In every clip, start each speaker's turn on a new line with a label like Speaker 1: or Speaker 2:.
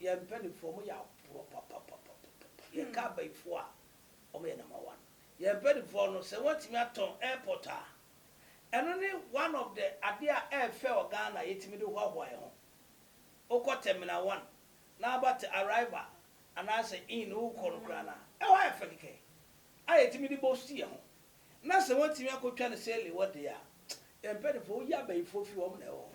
Speaker 1: Yɛn mpaninfoɔ ɔmo yɛ aborɔ papapapapapa yɛn ka abayifoɔ a ɔmo yɛ number one yɛn mpaninfoɔ no sɛ wɔatumi atɔn airport a ɛno ne one of the adeɛ a ɛɛfɛ wɔ Ghana a yɛtumi de hoahoa yɛn ho wokɔ terminal one na aba te arrival anaasɛ inn no wokɔ no koraa no a ɛhɔ ayɛ fɛ kɛkɛ a yɛtumi de boast yɛn ho na sɛ wɔatumi akɔtwa no sale wɔ deɛ a yɛn mpaninfoɔ woyi abayifoɔ firi hɔ ɔmo na ɛwɔ hɔ.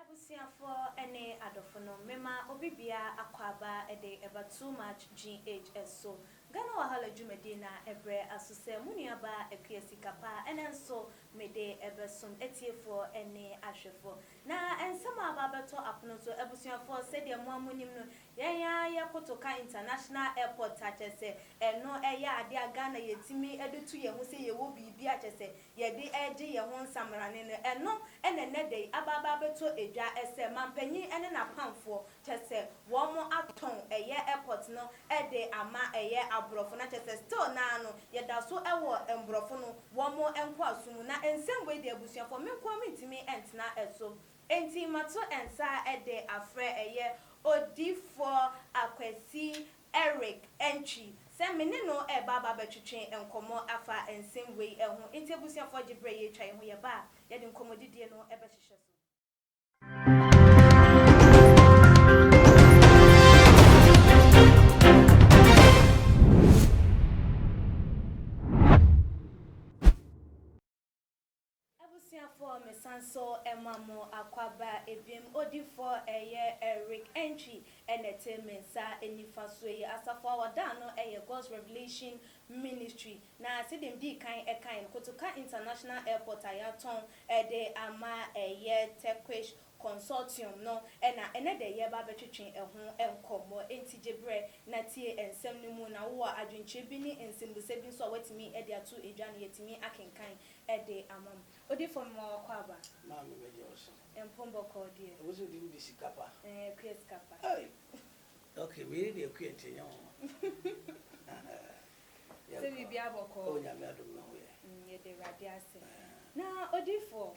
Speaker 2: Abusuafoɔ ne adɔfo nom, mema obi biara akwaaba de ɛba Too Much GH so. Ghana Wahala dwumadie no a ɛbrɛ aso sɛ mo nuabaa Akua Sika Pa ɛnɛ nso mede ɛbɛsom atiefoɔ ne ahwɛfoɔ. Na nsɛm a aba abɛtɔ apono so, abusuafoɔ sɛdeɛ moa monim no, yɛn ara yɛ koto ka International Airport a kyerɛ sɛ ɛno ɛyɛ adeɛ a Ghana yɛtumi de to yɛn ho sɛ yɛwɔ biribi a kyerɛ sɛ yɛde regye yɛn ho nsamanane no, ɛno na ɛnnɛ da yi aba aba abɛtɔ dwa sɛ mampanyin ne n'apamfoɔ, kyerɛ sɛ wɔatɔn ɛyɛ airport no de ama ɛyɛ aborɔfo na kyerɛ sɛ still no ara no yɛda so wɔ mborɔfo no wɔn nkoasom mu na nsɛm wei deɛ abusuafoɔ me nkoa mentumi ntena so enti mato nsa de afrɛ ɛyɛ Odiyifoɔ Akwasi Eric antwi sɛ me ne no reba aba abɛtwetwe nkɔmmɔ afa nsɛm wei ho, enti abusuafoɔ gye berɛ a yɛretwa yɛn ho, yɛba a, yɛde nkɔmmɔdidie no bɛhyehyɛ so. Abusuafoɔ mesan so ma mo akwaba ebim odifoɔ ɛyɛ Eric Antwi ɛna ɛte me nsa nifa soɔ yi. Asafo a wɔdaa no ɛyɛ God's Revelation Ministry na sɛdeɛ me dii kan ɛkaeɛ no Kotoka International Airport a yɛatɔn de ama ɛyɛ Turkish Consortium no na ɛnɛ dɛ yɛreba abɛtwetwe ɛho nkɔmmɔ enti gye berɛ na tie nsɛm no mu na wowɔ adwenkyerɛ bi ne nsɛmbusa bi nso a woatumi de ato dwa no yɛatumi akenkan Ɛde ama me. Odi fɔ me ma wakɔ aba. Maa me bɛ gye
Speaker 1: ɔso. Mpom bɔ kɔɔ
Speaker 2: deɛ. Ɛwɔ sɛ odi ne de sika
Speaker 1: pa. Ɛɛ akua sika pa.
Speaker 2: Ei!
Speaker 1: Ok me yere de akua nti ɛnyɛ nwanwa.
Speaker 2: Yɛnkɔ. Sɛ biribiara bɔ kɔɔ. O Nyame adom me ho
Speaker 1: yɛ. Yɛda Awurade
Speaker 2: ase. Na odifoɔ.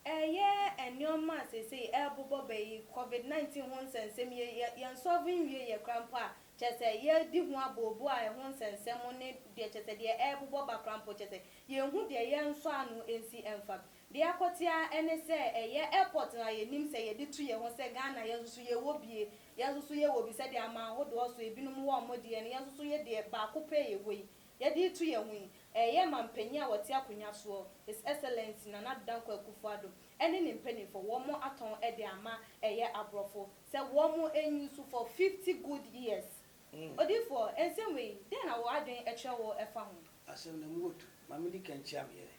Speaker 2: Ɛyɛ nneɛma a seesei ɛrebobɔ bɛ yi, Covid 19 ho nsɛnsɛm yi, yɛ yɛnsɔlve nwie yɛ koraa mpo a, kyerɛ sɛ yɛredi ho abooboo a ɛho nsɛnsɛm ne deɛ kyerɛ sɛ deɛ ɛrebobɔ ba koraa mpo kyerɛ sɛ yɛnhu deɛ yɛnsɔ ano nsi mfa. Deɛ akɔte ara ne sɛ ɛyɛ airport no a yɛnim sɛ yɛde tu yɛ ho sɛ Ghana yɛn nso so yɛwɔ bi e, yɛn nso so yɛwɔ bi sɛdeɛ aman ahodoɔ so ebinom wɔ wɔn deɛ no yɛn nso so yɛ deɛ baako pɛ a yɛwɔ yi Yɛde reto yɛn ho yi, ɛreyɛ ma mpanyin a wɔte akonnwa soɔ, His Excellency Nana Addo Dankwa Akufo-Addo, ɛne ne mpaninfoɔ, wɔn atɔn de ama ɛyɛ aborɔfo sɛ wɔn nniso for fifty good years. Odiyifoɔ, nsɛm wei, dɛn na wo adwene kyerɛ wo fa ho? Asɛm no mu wɔ tu.
Speaker 1: Ma me di kan nkyia me yere.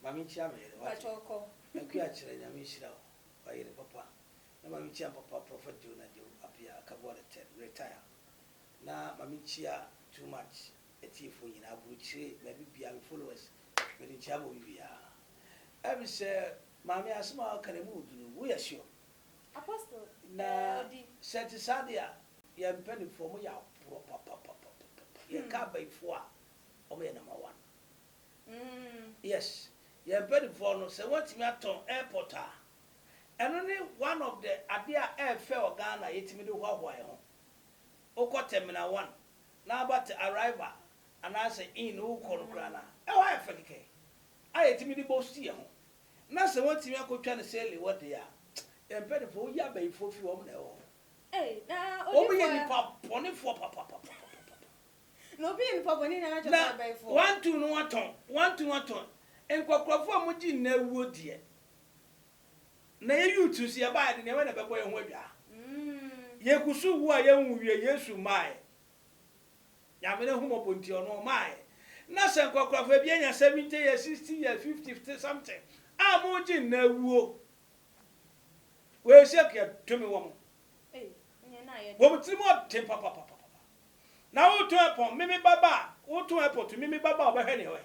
Speaker 1: Ma me nkyia me yere, wate. Mpakyɛw, kɔ. Akua
Speaker 2: Akyerɛ, Nyame
Speaker 1: nhyira wo, w'ayere papa. Na ma me nkyia me papa, Prophet Joe Najo Appiah Akabuare Ted, Retire. Na ma me nkyia too much atiefo nyinaa aburukyire baabi biaa me followers mede nkyia ma obi biaa ɛfiri sɛ maame asɛm a waka no ɛmu wɔ duru wo yɛ sure
Speaker 2: na
Speaker 1: sɛ ɛte saa deɛ a yɛn mpanifoɔ ɔmo yɛ aporɔ papapapapapa yɛn ka abayifoɔ a ɔmo yɛ number one yes yɛn mpanifoɔ no sɛ wɔatumi atɔn airport a ɛno ne one of the adeɛ a ɛɛfɛ wɔ Ghana yɛtumi de hoahoa yɛn ho wokɔ terminal one na aba te arrival anaasɛ inn no wokɔ no koraa no a, ɛhɔ ayɛ fɛ kɛkɛ a yɛtumi de bɔ si yɛn ho na sɛ wɔatumi akɔtwa no sɛlli hɔ deɛ a, yɛn mpanifoɔ woyi abayifoɔ firi wɔn na ɛwɔ hɔ. Wɔn
Speaker 2: yɛ nnipa
Speaker 1: bɔnefoɔ papapapapapa.
Speaker 2: Na obi yɛ nnipa bɔne na atwa sɛ abayifoɔ. Na wɔatu no atɔn,
Speaker 1: wɔatu no atɔn. Nkwakorafoɔ a wɔgye nna awuo deɛ. Na yɛ youths nso yɛbaeɛ yɛde nneɛma na ɛbɛbɔ yɛn ho adwaa. Yɛkusu wu a yɛnwu wie, Yesu mmaeɛ. Nyame n'ahummɔbɔ nti ɔno ɔmaeɛ. Na sɛ nkwakorafoɔ bi anya 70 years, 60 years, 50 something a moregye nna awuo. Wei sɛk yɛdome wɔn. Wɔn tiri mu ɔden papapapa. Na woretɔn ɛpɔn, me me ba ba a, woretɔn ɛpɔ to me me ba ba a ɔbɛhwɛ nea ɔyɛ.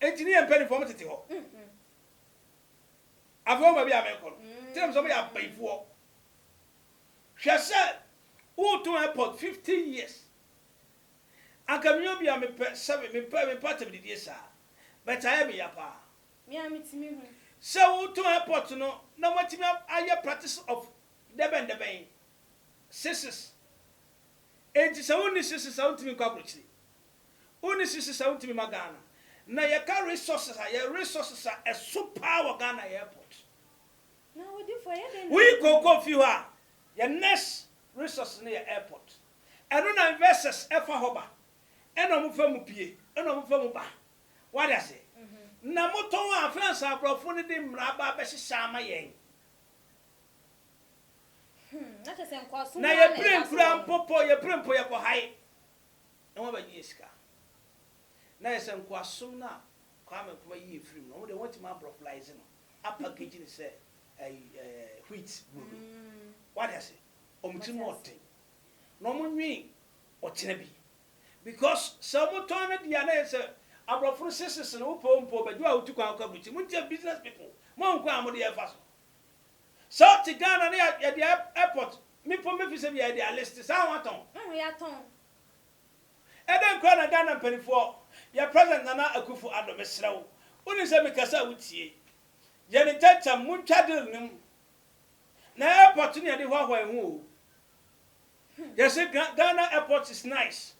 Speaker 1: Enti ne yɛn mpanimfoɔ mo tete hɔ. Afei wɔn baabi a merekɔ no, kyerɛ me sɛ wɔyɛ abayifoɔ. Hwɛ sɛ woretɔn airport fifteen years. Anka me obi a mepɛ seven, mepɛ, mepɛ atɛmdidie saa. But ayɛ me ya paa. Me ara metumi
Speaker 2: hu. Sɛ woretɔn
Speaker 1: airport no na moatumi ayɛ practice of dɛbɛn dɛbɛn, sixes. Enti sɛ wonni sixes a wontumi nkɔ abrokyire. Wo ne sisi sa wotumi ma Ghana na yɛka resources a yɛ resources a ɛso paa wɔ Ghana yɛ airport.
Speaker 2: Woyi cocoa fi hɔ a
Speaker 1: yɛ next resources no yɛ airport. Ɛno na investors fa hɔ ba ɛna ɔmo fa mu pie ɛna ɔmo fa mu ba. Wate aseɛ? Na motɔn a afei ansa abrɔfo no de mmara aba abɛhyehyɛ ama yɛn.
Speaker 2: Na yɛ pire nkura
Speaker 1: mpo po yɛ pire mpo yɛkɔ hae. na wɔabɛgye yɛn sika. Na ayɛ sɛ nkoasom no a Kwame Nkrumah yii yɛn firii mu no, wɔn deɛ wɔatumi abrɔflaize no, apackage no sɛ ɛyi ɛɛ wheat brodo. Wate ase? Wɔn ti mu ɔden. Na wɔn nwen ɔkyena bi. Because sɛ wɔtɔn no deɛ a, na ayɛ sɛ abrɔfo no sesese no, wopɛ o, wompɛ o, bɛgye wo a wotu kwan kɔ aburukyiri. Montie business people, monkɔ a mode yɛn mfa so. Sɛ wo te Ghana na yɛ de airport me pon bɛ fi sɛ bi a yɛ de a list saa ho atɔn. Ɛho yɛ atɔn. Ɛdɛn koraa na Ghana mpanifoɔ yɛ president Nana Akuffo Addo me srɛ wo wo nim sɛ me kasa a wo tie yɛ ne ntɛntɛm mo ntwa deal no mu na airport no yɛ de hoahoa yɛ ho oo yɛ se Ghana airport is nice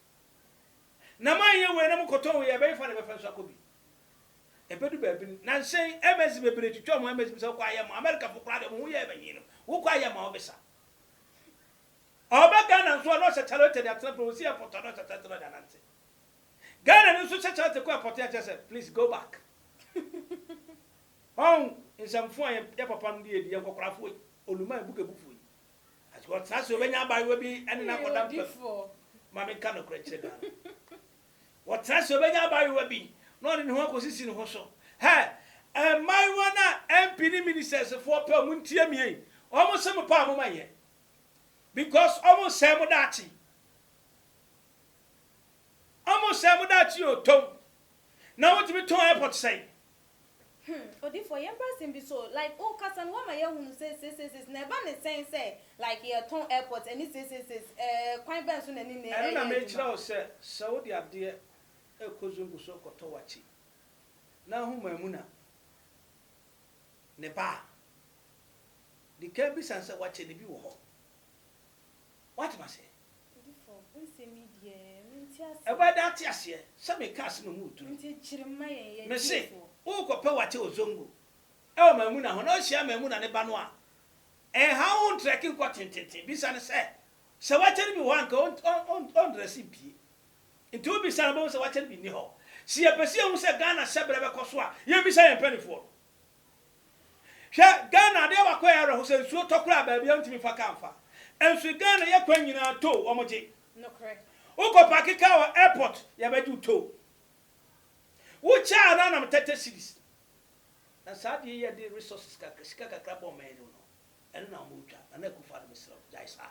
Speaker 1: na mo anyɛ wei na mo kɔtɔn wei a ɛbɛye fa na ɛbɛfa nso akɔ bi. Ebedu baabi no, na nhyɛn MS bebree twitwa wɔn MS mu sɛ, Wokɔ a yɛmmoa. Amerikafo koraa deɛ, wɔn ho yɛɛ me nwen no. Wokɔ a yɛmmoa wo bisa. Ɔreba Ghana nso a, na ɔhyɛ charlotte de atena pere, ɔsi airport a, na ɔhyɛ charlotte na ɔde anante. Ghanani nso hyɛ charlotte kɔ airport a, kyerɛ sɛ, please go back. Wɔn nsɛmfo a yɛn yɛn papanom de adi, yɛn nkɔkorafoɔ yi, Oluma yi, Bugebufoɔ yi, ɔtena ase, ɔbɛnya abaayewa bi ne no akɔda mpa mu. Ma
Speaker 2: menka nokorɛ
Speaker 1: nkyerɛ Ghana. Ɔtra sɛ ɔbɛnya abaayewa bi na ɔde ne ho akɔsisi ne ho so. Hɛɛ! Mmaayewa no a MP ne ministers foɔ pɛ wɔn ntia me ei, wɔn se mo paa mo ma yɛ because wɔn resɛe mo daakye. Wɔn resɛe mo daakye oo, tɔn na wotumi tɔn airport sɛn? Hmm
Speaker 2: odifoɔ yɛmprɛ asɛm bi so o like wo kasa no woama yɛahunu sɛ seiseiseis na ɛba ne sɛn sɛ like yɛtɔn airport ɛne seiseiseis ɛɛ kwan bɛn so na ɛne nɛ ɛyɛ adwuma. Ɛno na mekyerɛ wo sɛ
Speaker 1: sɛ wode adeɛ ɛkɔ zongo so ɛkɔtɔ wakyi na ahu maamuna ne ba a dikan bisa no sɛ wakye no bi wɔ hɔ. Woate m'ase? Odifo, wo
Speaker 2: nsɛm yi deɛ, mente aseɛ. Ɛbɛyɛ dɛ ate aseɛ
Speaker 1: sɛ meka asem a moretu no. Nti kyere mma yɛn,
Speaker 2: yɛ Mese, gyeefoɔ.
Speaker 1: worekɔpɛ w'ate Ozongo wɔ Maimuna hɔ na wohyia Maimuna ne ba no a, ɛnhaw wo ntrɛke nkɔ tententen. Bisa no sɛ, sɛ w'ate no bi wɔ hɔ a anka ɔntrɛse mpue. Nti wobisa no a wobɛhu sɛ w'ate no bi nni hɔ. Se yɛpɛ sɛ yɛhu sɛ Ghana hyɛberɛ bɛkɔ so a, yɛmmisa yɛn mpaninfoɔ no. Hwɛ Ghana adeɛ baako a ɛyɛ awerɛho sɛ nsuo tɔ koraa baabi a wontumi fa car mfa nso Ghana yɛ kwan nyinaa tow wɔn gye
Speaker 2: wokɔ paake car
Speaker 1: wɔ airport yɛbɛgye wo tow wo kyɛɛ no anam tɛtɛ cedis na saa adeɛ yi yɛde resources kakra sika kakra bɔ ɔman anim no ɛno na wɔretwa Nana Akufo-Addo mesrɛ wo gyae saa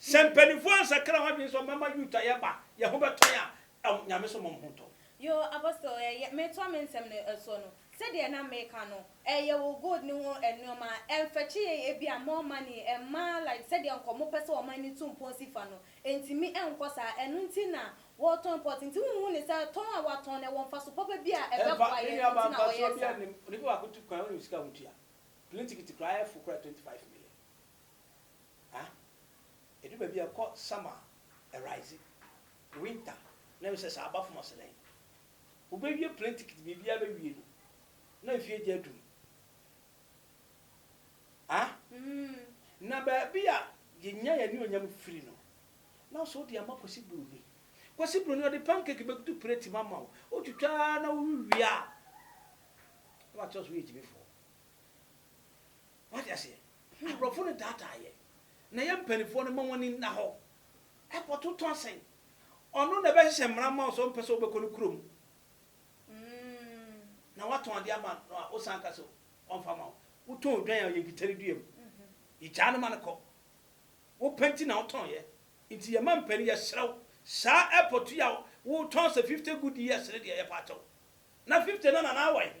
Speaker 1: Sɛ mpaninfoɔ ansakra wɔn adwene sɛ wɔbɛma Yuut a yɛba yɛn ho bɛtɔ yɛn a, ɛm, Nyame so mmɔ mo ho ntɔ. Yoo, Apostle,
Speaker 2: ɛ, yɛ, metoa me nsɛm no soɔ no, sɛdeɛ na mereka no, ɛ, yɛwɔ gold no ho nnoɔma, ɛmfɛkye yɛn ebia more money, ɛmma, like sɛdeɛ nka wɔpɛ sɛ wɔma ani to mpɔn si fa no, ɛntumi nkɔ saa, ɛno nti na wɔretɔn imported, nti wonhu no sɛ tɔn a wɔatɔn no ɛwɔ mfaso papa bi a Ɛmfa, ɛbɛboa me yɛn nuabaa, nti na mfa sɛ wɔyɛ obiara saa? nnim,
Speaker 1: onipa baako tu kwan a ɔnim sika a wɔtua, plane ticket koraa ɛyɛ fo koraa 25 million, Ah ɛdu baabi a ɛkɔ summer ɛrise winter na ɛwɛ sɛ saa aba fam ase dɛn wo bɛ wie plane ticket biribiara bɛ wie no na mfie agya adum ah na baabi a yɛ nya yɛ ne onyam firi no na ɔsɛ ɔde ama kwasi broni kwasi broni ɔde pancake bɛ gutu plate ma ma wo wo twitwa na wo wie a na wakyerɛ so yɛ gyimifoɔ wate aseɛ Aborɔfo no daadaa yɛn na yɛn mpanimfoɔ no ma wɔn ani nna hɔ kɔto tɔn sɛn ɔno na ɛbɛhyehyɛ mmara ama wo sɛ ɔmpɛ sɛ wobɛkɔ ne kurom na woatɔn adeɛ ama no a wosan ka sɛ ɔmfa ma wo wotɔn odwan a yɛnkita no dua mu yɛgyaa no ma no kɔ wopɛ nti na wotɔn yɛ nti yɛma mpani yɛserɛ wo saa airport yi a wotɔn sɛ 50 good years no deɛ yɛpa akyɛw na 50 no na na awɔ he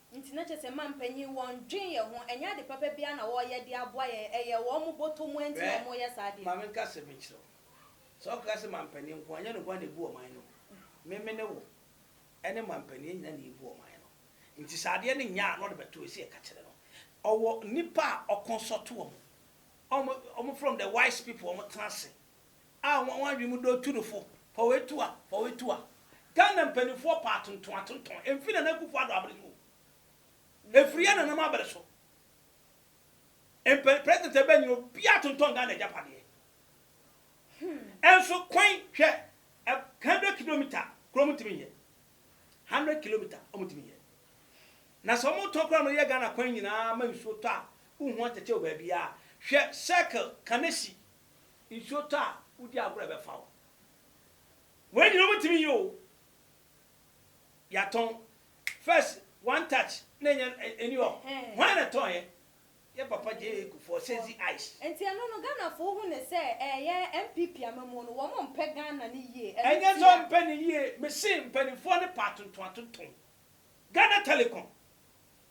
Speaker 2: Nti na kyerɛ sɛ mma mpanyin wɔn dwen yɛn ho ɛnyɛ ade papa biara na wɔyɛ de aboa yɛn ɛyɛ wɔn mo bɔtɔ mua nti na wɔn yɛ saa adeɛ no. Hwɛ ma me nka asɛm bi nkyerɛ wo
Speaker 1: sɛ ɔkeka sɛ ma mpanin nko a nyɛ no nko a na ebu ɔman no me me ne wo ɛne ma mpanin yɛn nyinaa na yɛ bu ɔman no nti sɛ adeɛ no nyɛ a na ɔde bɛto ɛsɛ yɛ ka kyerɛ no ɔwɔ nnipa a ɔkɔnsɔto wɔn wɔn wɔn from the wise people wɔn tena ase A wɔn adwene mu dɔ Turofo, Pɔwee Tua, Pɔwee Tua. Ghana mpanimfoɔ paa atontɔn atontɔn ɛmfiri Nana Akuffo Addo abere so o. Ɛfiri yɛn nananom abere so. Mpan President ɛbɛn nyina obiara atontɔn Ghana agyapadeɛ. Ɛnso kwan hwɛ ɛ hundred kilometer kura ɔmo ntumi nyɛ. Hundred kilometer ɔmo ntumi nyɛ. Na sɛ ɔmo tɔn kura no yɛ Ghana kwan nyinaa ma nsuo tɔ a wonhu atɛkyɛ wɔ baabiara. Hwɛ circle Kanesi Nsuo tɔ a, wodi agorɔ a ɛbɛfa wo. Wei nyina wobɛtumi yɛ o. Yɛatɔn. First one touch na ɛnyɛ ɛni hɔ. Hwan na ɛtɔn yɛ? Yɛ papa JA Kufuor, Sezi Ice. Nti ɛno no Ghanafoɔ
Speaker 2: hu no sɛ ɛɛyɛ NPP amamuo no wɔn mpɛ Ghana no yie ɛno ntia. Ɛnyɛ sɛ ɔmpɛ no
Speaker 1: yie, mese mpaninfoɔ no pɛ atonton atonton. Ghana Telecom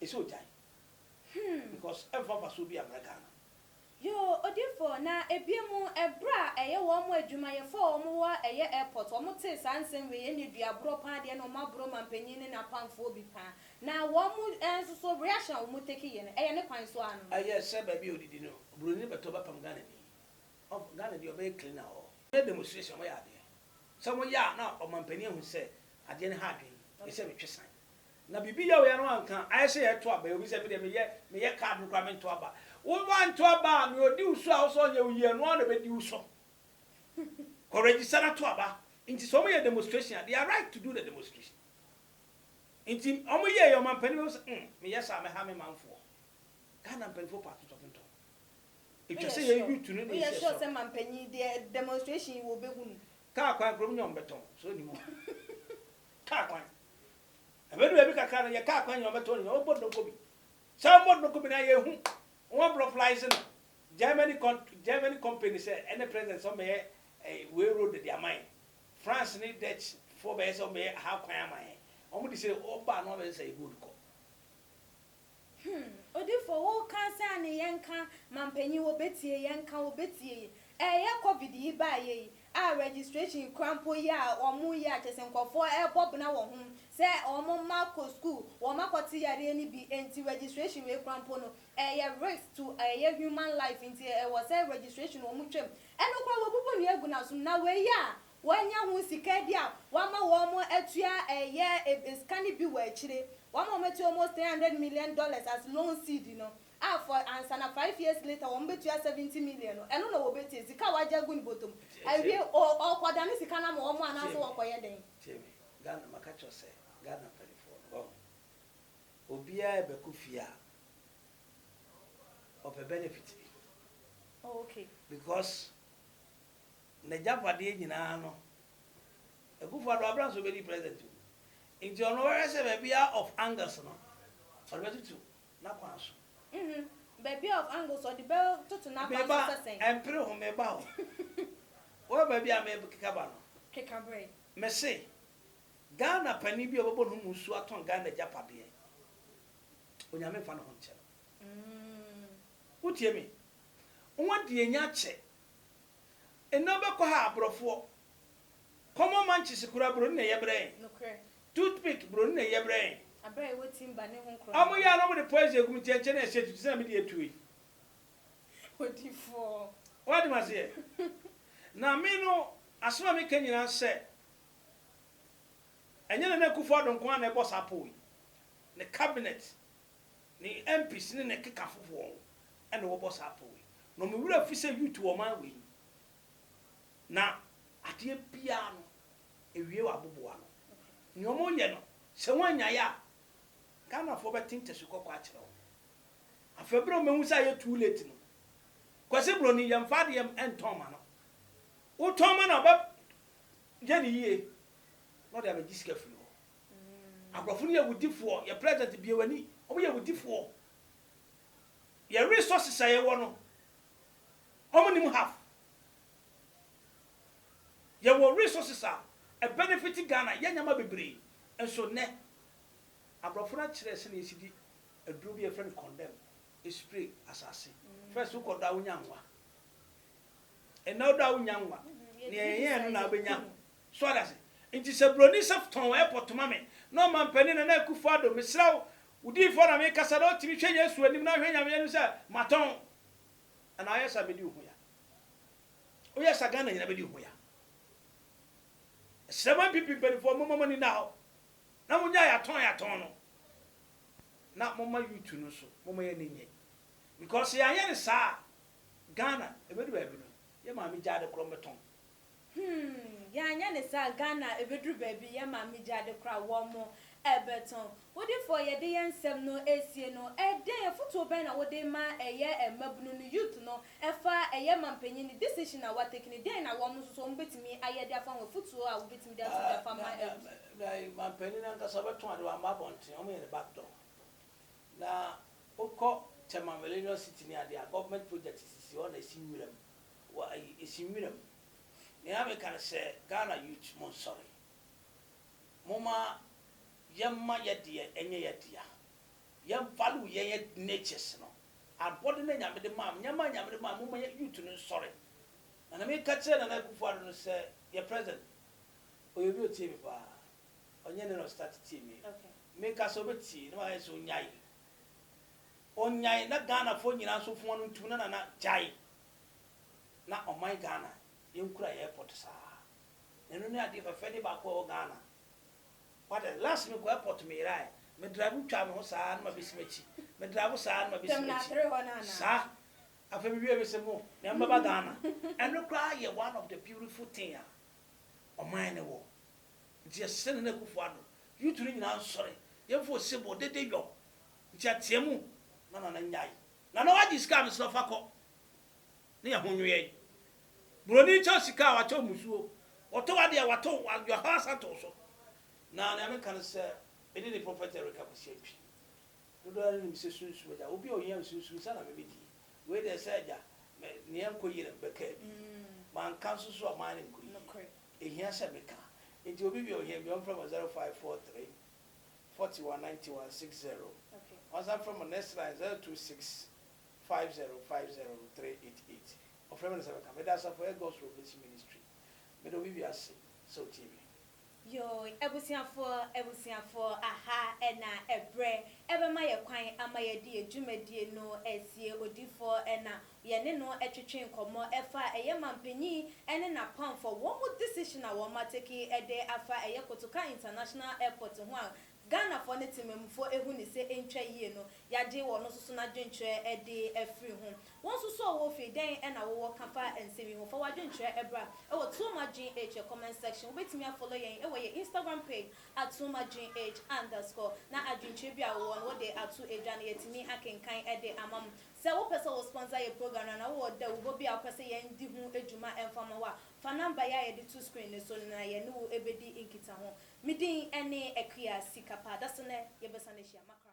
Speaker 1: Ɛsɛ ogyae Hmm. because ɛmfa mfasoɔ biaa mmra Ghana. Yoo
Speaker 2: odifoɔ na ɛbie mu ɛberɛ a ɛyɛ wɔn mo adwumayɛfoɔ a wɔn wɔ a ɛyɛ airport wɔn tee saa nsɛm wei ɛnne dua borɔ paa deɛ na wɔn aboro manpanin ne n'apamfoɔ bi paa na wɔn mo nsoso reaction a wɔn take yɛ no ɛyɛ ne kwan so ara no. Ɛyɛ sɛ baabi a ɔdidi
Speaker 1: no broni bɛtɔ bɛpam Ghanani ɔmfa Ghana deɛ ɔbɛyɛ cleaner wɔ hɔ. Ɛnyɛ demonstration wɔyɛ adeɛ sɛ wɔyɛ a na ɔmanpanin ahu sɛ adeɛ no ha adwene ɛsɛ metwe san Na biribi yɛ oya no anka ayɛ sɛ yɛto aba yi obi sɛ medeɛ meyɛ meyɛ card no koraa mento aba wo wanto aba a nea ɔdi wo so a wosɛ ɔnyɛ wo yie ɛno ara na ɛbɛdi wo so kɔ register na to aba nti sɛ wɔyɛ demonstration a they are right to do the demonstration nti wɔn yɛ yɛ ɔmampanin bɛhu sɛ mm meyɛ saa mɛha me manfoɔ Ghana mpanimfoɔ pa atotɔtotɔ ɛtwa sɛ yɛ youth no na ɛsi ɛsɔ sɛ mampanyin deɛ demonstration
Speaker 2: yi wɔ bɛhu no kaa kwan kurom nyɛ
Speaker 1: wɔn bɛtɔn so nim Kaa kwan. Ɛbɛdu baabi kakra no, yɛ kaa kwan nyinaa ɔbɛtɔ nyinaa, ɔbɔ donko bi. Sɛ ɔbɔ donko bi no a, yɛ hu. Wɔn abrɔflize no, Germany kɔn, Germany company sɛ ɛne president sɛ ɔmɛyɛ eh, wei road de ama yɛn. France ne Dutch foɔ bɛyɛ sɛ ɔmɛyɛ ha kwan ama yɛn. Wɔn de sɛ ɔba no abɛyɛ sɛ yɛ good kɔ. Hmm
Speaker 2: odifoɔ wo ka sɛ ane yɛn ka mampanyin wɔ bɛtie yɛn ka wɔ bɛtie yi ɛyɛ covid yi baayɛ yi a registration kura mpo yɛ a wɔn yɛ a kyɛsɛ nkorɔfoɔ ɛbɔ bena wɔ ho sɛ wɔn mma kɔ school wɔn akɔ te yareɛ no bi ɛnti registration wei kura mpo no ɛyɛ risk to ɛyɛ human life nti ɛwɔ sɛ registration wɔn twam ɛno kura wɔbubu nua gu nasom na wei yɛ a Wɔanya ho sika bi a wɔama wɔn atua ɛyɛ sika no bi wɔ akyire. Wɔama wɔn atua almost three hundred million dollars as loan seed no a for ansa na five years later wɔn bɛtua seventy million no ɛno na wɔbɛtie sika a wɔagye agu ne bɔtɔ mu awie o ɔrekɔdane sika no ama wɔn anaasɛ wɔrekɔyɛ dɛn? Tie me Ghana
Speaker 1: maka kyerɛ wo sɛ Ghana mpaninfoɔ no wahu obiara rebɛkɔ fie a ɔpɛ benefit bi
Speaker 2: okay because.
Speaker 1: n'agyapadeɛ nyinaa no Akufo Addo abra nso bɛdi president o nti ɔno ɔbɛhwɛ sɛ baabi a of angles no ɔde bɛtoto n'akwan so. Uhmm baabi
Speaker 2: a of angles ɔde bɛ toto n'akwan so sɛ sɛn? Meba mpere ho
Speaker 1: meba o wohwɛ baabi a me keka ba no. Keka brɛ.
Speaker 2: Me se
Speaker 1: Ghana panin bi a ɔbɛbɔ ne ho mu nsuo atɔn Ghana agyapadeɛ Onyame nfa ne ho nkyɛ no. Uhmm. Wo tie me. Wo ho adi anya akyɛ Eno bɛ kɔ ha abrɔfoɔ. Common man kyese kura bro no na ɛyɛ brɛɛ. Nokorɛ. Tooth
Speaker 2: pick bro no
Speaker 1: na ɛyɛ brɛɛ. Abrɛ a ɛwɔ timba
Speaker 2: ne ho nkorɔ no. Ɔmo yɛ a na ɔmo de poison
Speaker 1: egu me ti ɛnkyɛ na ɛhyɛ atutu sɛ na me deɛ atu ei.
Speaker 2: Odifoɔ. Wate me aseɛ?
Speaker 1: Na me no asem a me ka nyinaa nsɛ ɛnyɛ Nana Akufo Addo nko ara na ɛbɔ saa pɔw yi. Ne cabinet ne MPs ne ne kekafo wɔn na wɔbɔ saa pɔw yi. Na wɔn werɛ afi sɛ youth wɔ ɔman wei mu. Na adeɛ biara no ɛwie wɔ aboboano. Nea wɔyɛ no sɛ wɔannyae a, Ghanafoɔ bɛte ntasu kɔkɔɔ akyerɛ wɔn. Afei berɛ a wɔbɛhu sɛ ayɛ too late no, Kwasi Broni yɛmfa adeɛ ntɔn ma no. Wotɔn ma no a ɔbɛyɛ no yie na ɔde abɛgye sika afiri hɔ. Abrɔfo no yɛ awudifoɔ yɛ president bue wani ɔmo yɛ awudifoɔ yɛ resources a yɛwɔ no ɔmo nim half yɛwɔ resources a ɛ benefit Ghana yɛ nneɛma bebree nso nnɛ abrɔfo no akyerɛ sɛnea yɛsi di aduro bi a yɛfrɛ no condemn espray asaase first wokɔ dɔ a wonya nwa ɛnna wodɔ a wonya nwa nea yɛyɛɛ no na wobɛnya So wate ase? Nti sɛ broni sɛ tɔn airport ma me, na ɔmanpanin Nana Akufo Addo, mesrɛ wo, wo diyifoɔ na mekasa, na wotumi hwɛ Yesu anim na hwɛ Nyame anim sɛ matɔn anaa woyɛ saa bɛdi wo ho ya. Woyɛ saa Ghana nyina bɛdi wo ho ya. Mesrɛ mo NPP mpanifoɔ momma mo ani nna hɔ na monyae atɔn yɛatɔn no, na momma youth no nso momma yɛn ani nnye. Because sɛ yɛanyɛ no saa a, Ghana ɛbɛdu baabi no yɛ maame gyaade korɔ mbɛtɔn Humm yɛanyɛ
Speaker 2: ne saa Ghana ɛbɛduru baabi yɛn maame gya de kora wɔn ɛbɛtɔn. Wodifo a yɛde yɛn nsɛm no ɛresie no ɛdɛn afotuo bɛn na wode ma ɛyɛ mmabunu no youth no ɛfa ɛyɛ mampanyin no decision a watake no dɛn na wɔn nso so wɔn bɛtumi ayɛ de afa ho afotuo a wobɛtumi de ato gya afa ama youth.
Speaker 1: Mampanyin no ankasa ɔbɛtɔn ade wamma abɔnten wɔn yɛ no back door na wokɔ Tema millennium city ne adeɛ a government project sisi hɔ na ɛsi nwura mu Wa yi esi nwura mu. Nea me ka ne sɛ Ghana youth mo nsɔre. Mo ma yɛ ma yɛ deɛ ɛnyɛ yɛ dea. Yɛ value yɛn yɛ natures no. Abɔde no Nyame de maa mo. Nneɛma a Nyame de maa mo mo ma yɛ youth no nsɔre. Na nea me ka kyerɛ Nana Akuffo Addo no sɛ yɛ president ɔyɛ obi otie me paa. Ɔnyɛ nɛ na ɔstart tie me. Me ka sɛ
Speaker 2: ɔbɛ tie
Speaker 1: na ma yɛ sɛ ɔnyae. Ɔnyae na Ghana foɔ nyinaa nso foɔ no ntum na Nana gyae. na ɔman Ghana yɛnkura yɛ airport saa. Ɛno ne adeɛ fɛfɛde baako a ɛwɔ Ghana. Wate last mekɔ airport meyeraɛ, me drive twaa me ho saa na mabɛsi m'akyi, me drive saa na mabɛsi m'akyi saa. Afei mewie mese mo me mbɛba Ghana. Ɛno koraa yɛ one of the beautiful thing a ɔman no wɔ. Nti yɛsrɛ Nana Akuffo Addo, youth no nyinaa nsɔre, yɛmfa osebɔ, dede yɔ, nteateamu ma Nana nyae Nana wagye sika a mesrɛ wo fa kɔ na yɛ ho nweɛn. Buroni kyɛ wo sika a wakyɛ wo mmusuo. Ɔtɔ w'adeɛ a wato wo you are hɔ asan to wo so. Na nea meka ne sɛ me ne ne prophet Eric Akwasi Antwi dodoɔ no ara nim sɛ sunsum agya obi a ɔhia me sunsum nsa na me me di. Wei deɛ sɛ agya me nea ɛnkɔ yie na me bɛkaa bi. Manka nso so a ɔman no nkɔ yie. Ɛhia sɛ meka. Nti obi bia ɔhia bi ɔmfrɛ me wɔ 0543. forty one ninety one six zero Wansan frɛ mo next line zero two six five zero five zero three eight eight Ɔfrɛ me na sɛ bɛka Meda Asafo Ɛyɛ God's Revelation Ministry Meda obi wiase sɛ otie me. Yooy
Speaker 2: abusuafoɔ abusuafoɔ aha na ɛbrɛ ɛbɛma yɛ kwan ama yɛde yɛ dwumadie no asie odifoɔ na Yɛne no twetwee nkɔmmɔ ɛfa ɛyɛ manpanyin ɛne n'apamfɔ wɔn mu decision a wɔn atake ɛde afa ɛyɛ Kotoka International Airport ho a Ghanafoɔ ne temanmufoɔ ɛhu ne sɛ ɛntwa yie no, yagye wɔn nso so n'adwenkyerɛ ɛde afiri ho. Wo nso so a ɔwɔ fie, dɛn ɛna wowɔ ka fa nsɛm yi ho? Fa w'adwenkyerɛ ɛbra ɛwɔ Tuom Adwen Age yɛ comment section. Wobɛtumi afollow yɛn ɛwɔ yɛn Instagram page at Tuom Adwen Age underscore na adwenkyerɛ bi a wowɔ no wode ato dwa no yɛatumi akenkan ɛde ama mo. Sɛ wopɛ sɛ wo sponsor yɛ program no anaa wowɔ dawubɔ bi a wopɛ sɛ yɛn di ho dwuma ɛmfa mma wo a, fa number yi a yɛde to screen no so no na yɛne wo bɛdi nkitaho. Me din ne Akua Sikapa. Da so nnɛ yɛbɛsan ahyia. Makram.